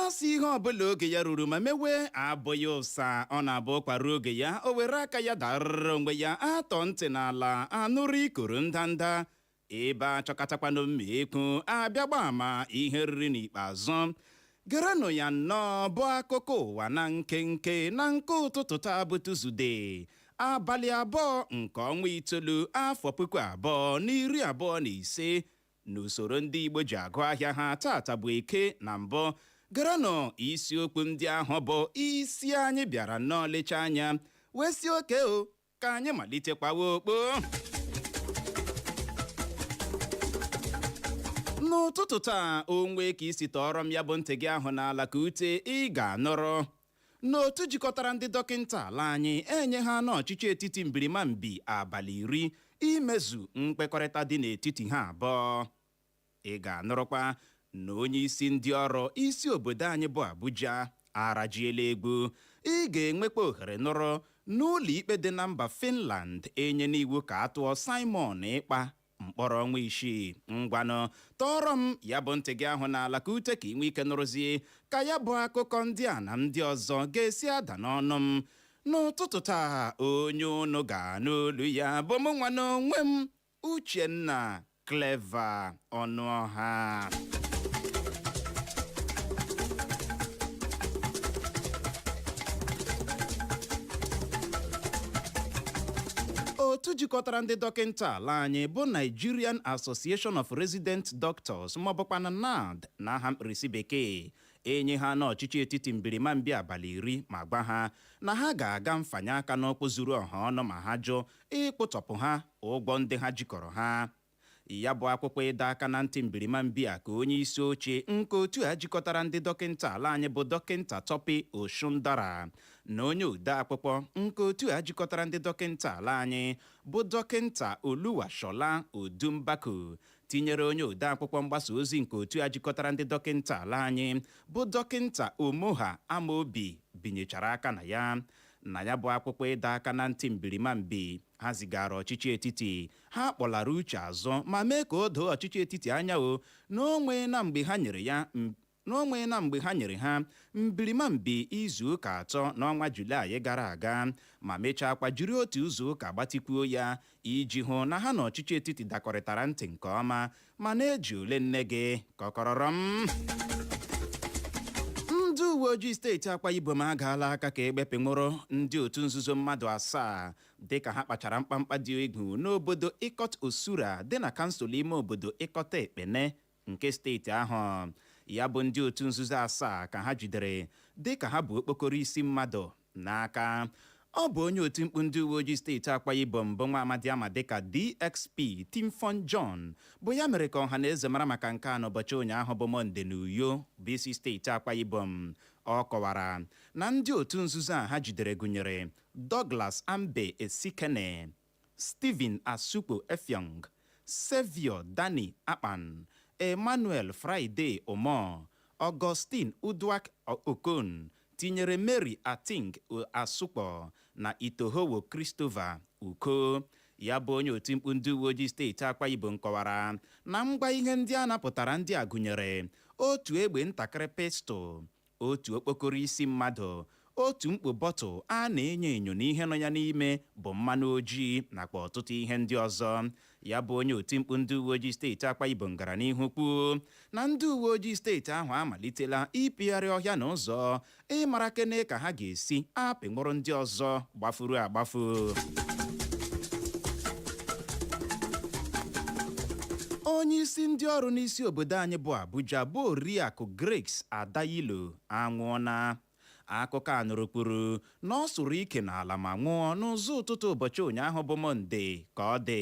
a sị ihe ọbụla oge ya ruru ma mewe abụghị ụsa ọ na-abụ ụkwa ruo oge ya o were aka ya darara onwe ya atọ ntị n'ala anụrụ ikoro ndanda ebe a chọkatakwanụ mma ekwu abịa gba ama ihe e riri n'ikpeazụ gerenụ ya nnọọ bụ akụkọ ụwa na nkenke na nke ụtụtụ taa bụ tuzdee abalị abụọ nke ọnwa itoolu afọ puku abụọ na iri abụọ na ise N'usoro ndị Igbo ji agụ ahịa ha taata bụ Eke na mbụ gerenụ isiokwu ndị ahụ bụ isi anyị bịara nnọọ lecha anya wee sị okay o ka anyị malitekwawa okpo n'ụtụtụ taa o nwee ka i si tọọrọ m ya bụ ntị gị ahụ n'ala ka ute ị ga-anụrụ na otu jikọtara ndị dọkịnta ala anyị enyehana ọchịchị etiti mbirimambi abalị iri imezu mkpekọrịta dị n'etiti ha abụọ ị ga-anụrụkwa na onye isi ndị ọrụ isi obodo anyị bụ Abuja arajiela egwu ị ga-enwekwa ohere nụrụ na ụlọ ikpe dị na mba Finland enyena iwu ka a tụọ Simon Ekpa mkpọrọ ọnwa isii ngwanụ tọọrọ m ya bụ ntị gị ahụ n'ala ka ute ka i nwee ike nụrụzie ka ya bụ akụkọ ndị a na ndị ọzọ ga-esi ada n'ọnụ m n'ụtụtụ taa onye unu ga-anụ olu ya bụ mụ nwa n'onwe m uchenna clever ọnụọha otu jikọtara ndị dọkịta ala anyị bụ Nigerian Association of Resident Doctors maọbụkwanụ NARD na aha mkpirisi bekee enyehana ọchịchị etiti mbirimambi abalị iri ma gwa ha na ha ga-aga mfanye aka n'ụkwụ zuru ọha ọnụ ma ha jụ ịkwụtọpụ ha ụgwọ ndị ha jikọrọ ha ya bụ akwụkwọ ịdọ aka na ntị mbirimambi a ka onye isi oche nke otu a jikọtara ndị dọkịnta ala anyị bụ dọkịnta Tope Osundara na onye ode akwụkwọ nke otu a jikọtara ndị dọkịnta ala anyị bụ dọkịnta Oluwasola Odunbaku tinyere onye ode akwụkwọ mgbasa ozi nke otu a jikọtara ndị dọkịnta ala anyị bụ dọkịnta Omoha Amaobi binyechara aka na ya na ya bụ akwụkwọ ịdọ aka na ntị mbirimambi ha zigaara ọchịchị etiti ha kpọlara uche azụ ma mee ka o doo ọchịchị etiti anya o na o nweena mgbe ha nyere ha mbirimambi izu ụka atọ n'ọnwa Julaị gara aga ma mechaakwa jiri otu izu ụka gbatikwuo ya iji hụ na ha na ọchịchị etiti dakọrịtara ntị nke ọma ma na-eji ole nne gị kọkọrọrọ m ndị uwe ojii steeti akwa ibom agaala aka ka egbe bịa nwụrụ ndị otu nzuzo mmadụ asaa dịka ha kpachara mkpamkpa dị egwu n'obodo Ikot Osura dị na kansụl ime obodo Ikot Ekpene nke steeti ahụ. Ya bụ ndị otu nzuzo asaa ka ha jidere dịka ha bu okpokoro isi mmadụ n'aka. Ọ bụ onye oti mkpu ndị uwe ojii steeti Akwa Ibom bụ nwa amadi a ma dịka DSP Timfon John bụ ya mere ka ọha na eze mara maka nke a n'ụbọchị ụnyaahụ bụ Mọnde na Uyo bụ isi steeti Akwa Ibom. Ọ kọwara na ndị otu nzuzo a ha jidere gụnyere Douglas Ambe Esikene, Stephen Asukwo Effiong, Saviour Danny Akpan, Emmanuel Friday Umoh, Augustine Uduak Okon, tinyere Mary Ating Asukwo na Itohowo Christopher Uko. Ya bụ onye oti mkpu ndị uweojii steeti Akwa Ibom kọwara na ngwa ihe ndị a napụtara ndị a gụnyere otu egbe ntakịrị pistol, Otu okpokoro isi mmadụ, otu mkpọ bọtụl a na-enyo enyo na ihe nọ ya n'ime bụ mmanụ ojii nakwa ọtụtụ ihe ndị ọzọ. Ya bụ onye otimkpu ndị uweojii steeti Akwa Ibom gara n'ihu kwuo na ndị uweojii steeti ahụ amalitela ịpịgharị ọhịa na ụzọ ịmara kene ka ha ga-esi apịnwụrụ ndị ọzọ gbafuru agbafu onye isi ndị ọrụ n'isi obodo anyị bụ abuja bụ oriakụ grace adayilo anwụọna akụkọ a nụrụ kwuru na ọ sụrụ ike n'ala ma nwụọ n'ụzọ ụtụtụ ụbọchị ụnyaahụ bụ mọnde ka ọ dị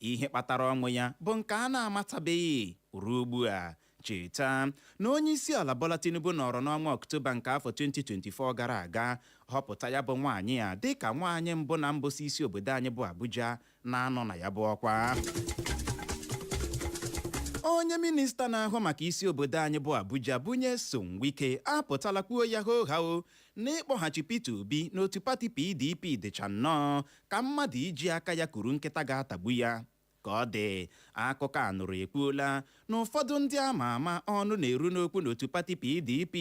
ihe kpatara ọnwụ ya bụ nke a na-amatabeghị ruo ugbu a cheta na onye isi ala Bola Tinubu nọrọ n'ọnwa Ọktoba nke afọ 2024 gara aga họpụta ya bụ nwaanyị a dịka nwaanyị mbụ na mbụ si isi obodo anyị bụ Abuja na-anọ na ya bụ ọkwa onye minista na-ahụ maka isi obodo anyị bụ Abuja bụ Nyesom Wike apụtala kwuo ya hoo haa na ịkpọghachi Peter Obi n'otu pati PDP dịcha nnọọ ka mmadụ iji aka ya kuru nkịta ga-atagbu ya Ka ọ dị, akụkọ a nụrụ ekwuola na ụfọdụ ndị a ma ama ọnụ na-eru n'okwu n'otu pati PDP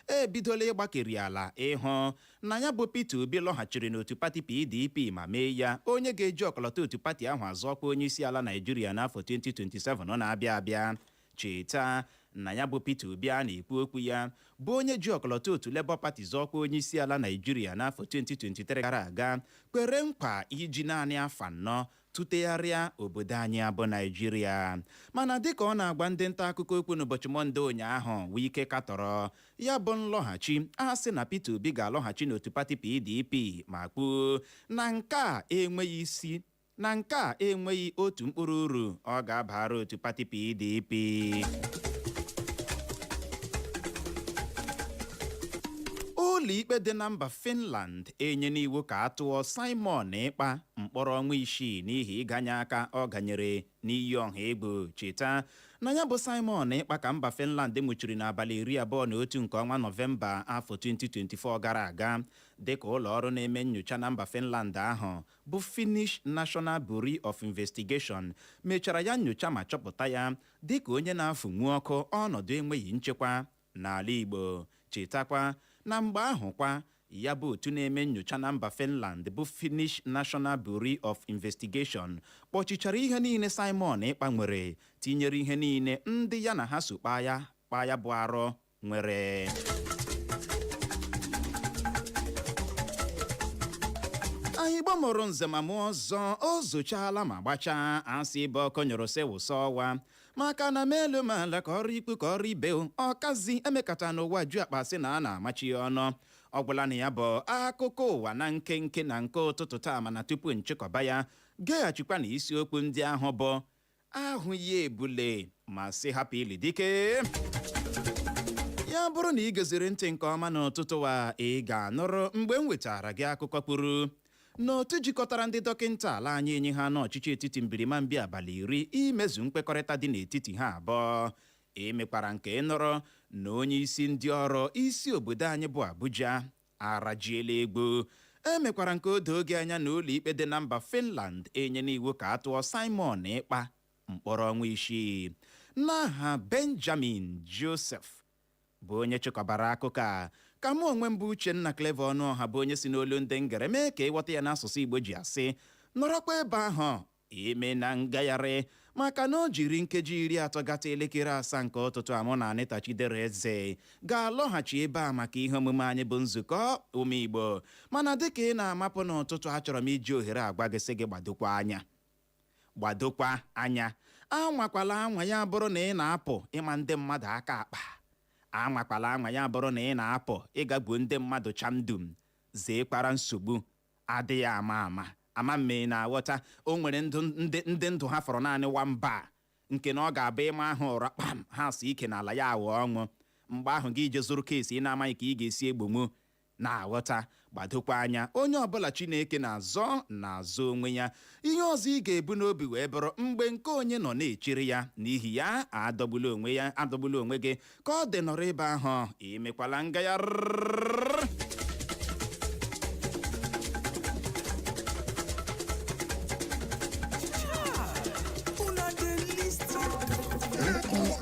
ebidola ịgbakeri ala ịhụ na ya bụ Peter Obi lọghachiri n'otu pati PDP ma mee ya onye ga-eji ọkọlọtọ otu pati ahụ azọ ọkwa onyeisiala Naịjirịa n'afọ 2027 na-abịa abịa. Cheta na ya bụ Peter Obi a na-ekwu okwu ya bụ onye ji ọkọlọtọ otu Labour Party zọọ ọkwa onyeisiala Naịjirịa n'afọ 2023 gara aga kwere nkwa iji naanị afọ anọ tụtegharịa obodo anyị a bụ naịjirịa mana dịka ọ na-agwa ndị nta akụkọ okwu n'ụbọchị mọnde ụnyaahụ wike katọrọ ya bụ nlọghachi a sị na peter obi ga-alọghachi n'otu pati pdp ma kwuo na nke a enweghị isi na nke a enweghị otu mkpụrụ uru ọ ga-abara otu pati pdp ụlọikpe dị na mba finland enyena iwu ka a tụọ simon ekpa mkpọrọ ọnwa isii n'ihi ịganye aka ọ ganyere n'iyi ọha egwu cheta na ya bụ Simon Ekpa ka mba Finland nwụchiri n'abalị iri abụọ na otu nke ọnwa Nọvemba afọ 2024 gara aga dịka ụlọ ọrụ na-eme nyocha na mba Finland ahụ bụ Finnish National Bureau of Investigation mechara ya nyocha ma chọpụta ya dịka onye na-afụnwu ọkụ ọnọdụ enweghị nchekwa N'ala Igbo, chetakwa na mgbe ahụ kwa, ya bụ otu na-eme nnyocha na mba Finland bụ Finnish National Bureau of Investigation kpọchichara ihe niile Simon Ekpa nwere tinyere ihe niile ndị ya na ha so kpaa ya kpaa ya bụ arụ nwere anị Igbo mụrụ nze ma mụọ ọzọ o zochaala ma gbachaa a sị ebe ọkụ nyụrụ sị wụsa ọwa maka na mee elu mee ala ka o ruo ikwu ka o ruo ibe o, ọkazi emekata n'ụwa ju akpa sị na a na-amachi ya ọnụ ọ gwụla na ya bụ akụkọ ụwa na nkenke na nke ụtụtụ taa mana tupu m chịkọba ya geghachikwa na isiokwu ndị ahụ bụ ahụ ya ebule ma sị hapụ ili dike ya bụrụ na i geziri ntị nke ọma n'ụtụtụ a ị ga-anụrụ mgbe m wetara gị akụkọ kwuru na otu jikọtara ndị dọkịnta ala anyị enye ha n'ọchịchị etiti mbirimambi abalị iri imezu nkwekọrịta dị n'etiti ha abụọ emekwara m ka ị nụrụ na onye isi ndị ọrụ isi obodo anyị bụ abuja arajiela egwu emekwara m ka o doo gị anya na ụlọikpe dị na mba finland enyena iwu ka a tụọ simon ekpa mkpọrọ ọnwa isii n'aha benjamin joseph bụ onye chịkọbara akụkọ a ka mụ onwe m bụ Uchenna Clever Ọnụọha bụ onye si n'olu ndị ngere mee ka ị ghọta ya n'asụsụ Igbo ji asị nọrọkwa ebe ahụ emena ngagharị maka na o jiri nkeji iri atọ gata elekere asaa nke ụtụtụ a mụ na Anita Chidera Eze ga-alọghachi ebe a maka ihe omume anyị bụ nzukọ ụmụ Igbo mana dịka ị na-amapụ n'ụtụtụ achọrọ m iji ohere a gwa gị sị gị gbadokwa anya gbadokwa anya anwakwala anwa ya bụrụ na ị na-apụ ịma ndị mmadụ aka akpa anwakwala anwa ya bụrụ na ị na-apụ ịga gbuo ndị mmadụ chamdum zeekwara nsogbu adịghị ama ama ama m ị na-aghọta o nwere ndị ndụ ha fọrọ naanị one bar nke na ọ ga-abụ ị maa ha ụra kpam ha sụ ike n'ala ya aghọ ọnwụ mgbe ahụ gị jee zụrụ case ị na-amaghị ka ị ga-esi egbonwu na-aghọta gbadokwa anya onye ọbụla Chineke na-azọ na-azọ onwe ya ihe ọzọ ị ga-ebu n'obi wee bụrụ mgbe nke onye nọ na-echere ya n'ihi ya adọgbula adọgbula onwe gị ka ọ dị nọrọ ebe ahụ emekwala ngagharị